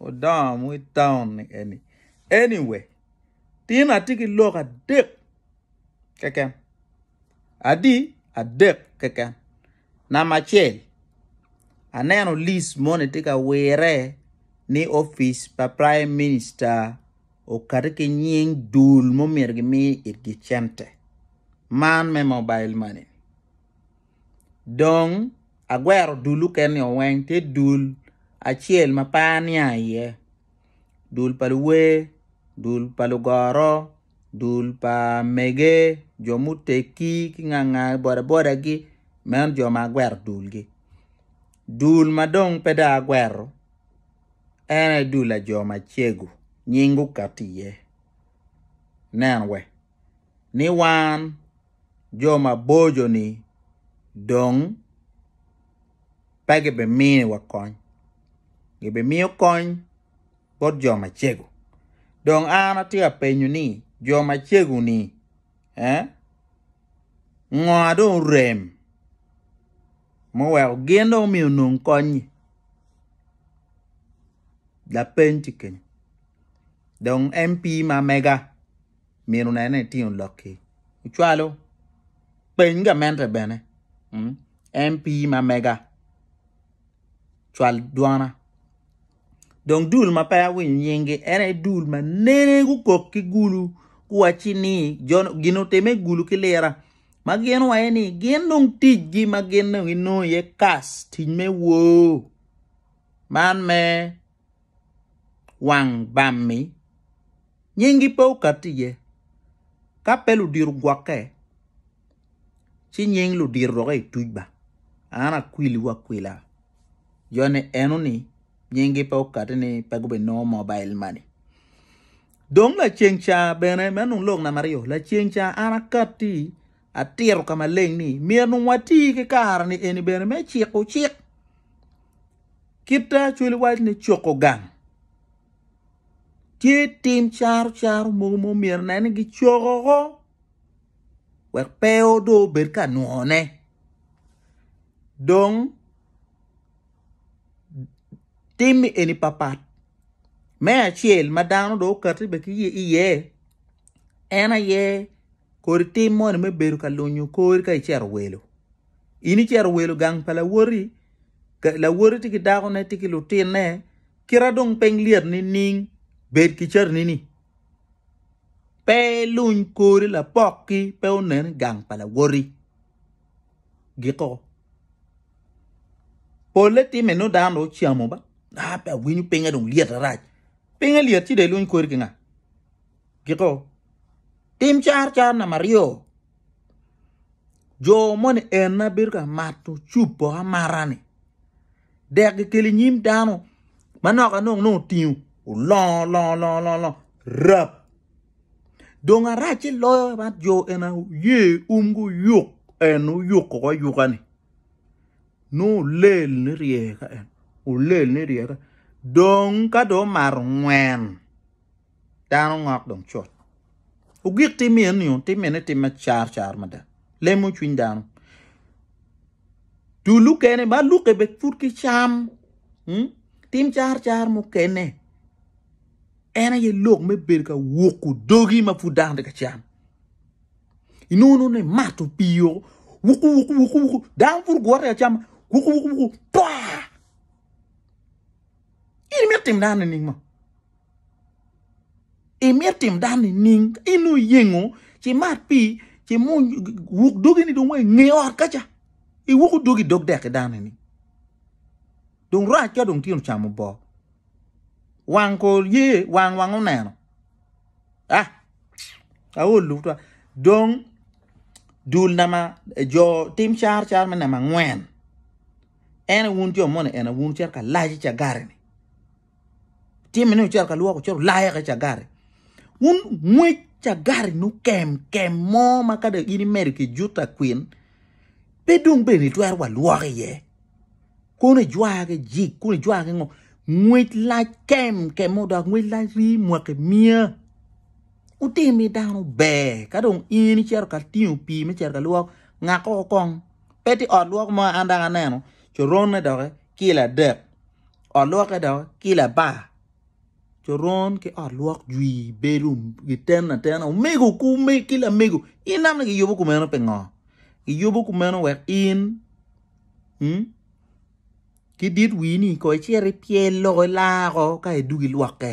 Wudongo mo i taun ni eni. Anyway, tin atye ki lok adek keken. Adi adek keken. Namba acel, aneno lis moni tye ka wire ni opic pa Prime Minister okati ki nying dul ma omyero gimi itgi cente. Man me mobile money. Dong. agwero dul okene-nio weng, tye dul acel ma pe aniang iye, dul pa luwer, dul pa lugoro, dul pa mege, jo muteggi ki nganga bodabodagi, meno jo ma agwero dulgi. Dul ma dong pe dong agwero en aye dul pa jo macego nying gukati iye, nen we. ni wan jo maboco-ni dong pe gibiminiwa kony, gibimiyo kony bot jo macego. Dong an atye ka penyo ni jo macego-ni ngo ma dong orem ma oweko gin dong omyero onong kony-nyi? Lapeny tye kenyo dong MP ma mega. mino nene itingo lokki ocwalo peny gamente bene MP ma mega cwal dwona dong dul ma pe awinyo nyingi en aye dul ma nene gukok ki gulu guwaci ni gin otime gulu ki lira ma gin waye ni gin dong ticgi ma gin dong ginongo iye kas tic me woo man me wang bam-mi, nyingi pe okat iye. Ka pe ludito gwokke, ci nying ludito dok etuc ba, an akwiliwu akwila joni eno ni nyingi pe okati ni pe gubinongo mobile money. Dong laceng ca bene, meno dong lok namba aryo, laceng ca an akatti atito ka maleng ni myero dong wati ki kare-ni eni bene me ciko cik. Kite acwali waco ni cuko gang tye tim caro caro mogo ma myero onene ni kicoko woko wek pe dong obed ka nywone dong tim eni papat me acel ma dano dong okati bene ki iye en aye kodi tim moni me bedo ka lunyo kori ka icito welo. In icito welo gang pa lawoti, lawoti tye ki dakone, tye ki lutinne, kira dong piny lyet nining? Bed ki carini-ni. Pe iluny kori lapokki pe onen i gang pa lawoti. Giko. Polle timme nongo dano dong ocamo ba. Ah, pe awinyo pinga dong lyet arac. Pinga lyet ci dong iluny kori ki nga? Giko. Tim car car namaryo. Jo moni en na bedo ka mato cup poko amata ni dek ki kelo inyim dano manok anok nongo otingo olongo longo longo longo rap dong aracce loyo bad jo eni aye oye um guyuk en oyuk koko ayuka ni nongo olel ni rye ka en olel ni rye ka dong ka dong omato ngwen. dano ngok dong cut. Ogik tim mine ni tim mine tim me car car mada. Lemo cwiny dano. Tu lukene ba luke be put ki cam. Hmm? Tim car car mukene. En aye lok me bedo ka wuku dogi ma pud dano tye ka cam. Inunu ni mato piyo wuku wuku wuku wuku dano pud gwote ka cam wuku wuku wuku twa. In imito tim dano nining mo? Imito tim dano nining? In oyengo ci mat pi ci mung wuk dogi ni dong nge ot kaca. Iwuku dogi dog dek ki dano ni. Dong rac ka dong tino chamo bo. Wang ko ye wang wang oneno. Ah. Aolu twa. Dong dul nama jo tim char char me nama ngwen. En aye wun jo moni en aye wun wucito ka layo cagare-ni. Timme ni wucito ka lwoko cito wulayo eka cagare. Wun ngwec cagare nu kem kem mo ma ka dong in imedo ki juto akwin pe dong bene itwero wa lwoko iye. Kono ijwar ki jik, kono ijwar ki ngo. Ngwec lac kem kem mo dok ngwec lac rii mwaki miya. Wutim ni dano ber ka dong in icito ka tingo pii me cito ka lwok ngako kong. pe tye ot lwok mo an dok aneno coronne doki kilo adek ot lwokke doki kilo apar coron ki ot lwok jwi bedo giten atena omego ki lamego in nongo kiyubo kumeno pingo kiyubo kumeno wek in ki dit wini ko icit ipyel loko ila woko ka idwogo ilwokke.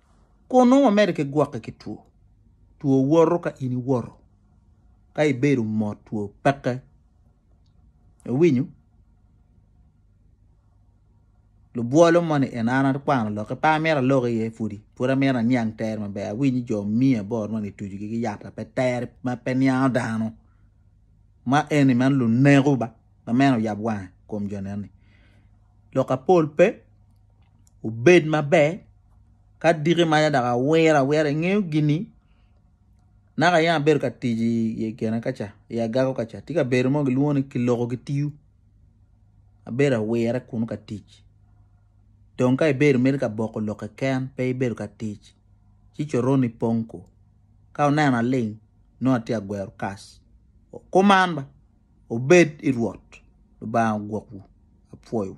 Kong nongo wamedde ki gwokke ki two. Two woto ka in iwoto, ka ibedo mot two peke. Iwinyo? Lubwolo moni en an akwano lok ki pe amito alok iye pudi, pud amito aniang tere maber, awinyo jo miya bot ma gitucogi ki yat ma pe tere ma pe niango dano. Ma eni man luneko ba, ma meno oyab wanga i kom jo neni. Lok apol pe obed maber ka adiki maca dok awiro awira ingeyo gini naka yam abedo ka tic i kine kaca i agago kaca tye kabedo mo gilwongo ni kiloko gitiyo abedo awire kunu ka tic dong ka ibedo imito ka boko lok keken pe ibedo ka tic ci coroni pong ko ka oneno aling nongo atye ka gwero kas kuman ba obed i Rwot Lubanga ogwokwu apwoyo.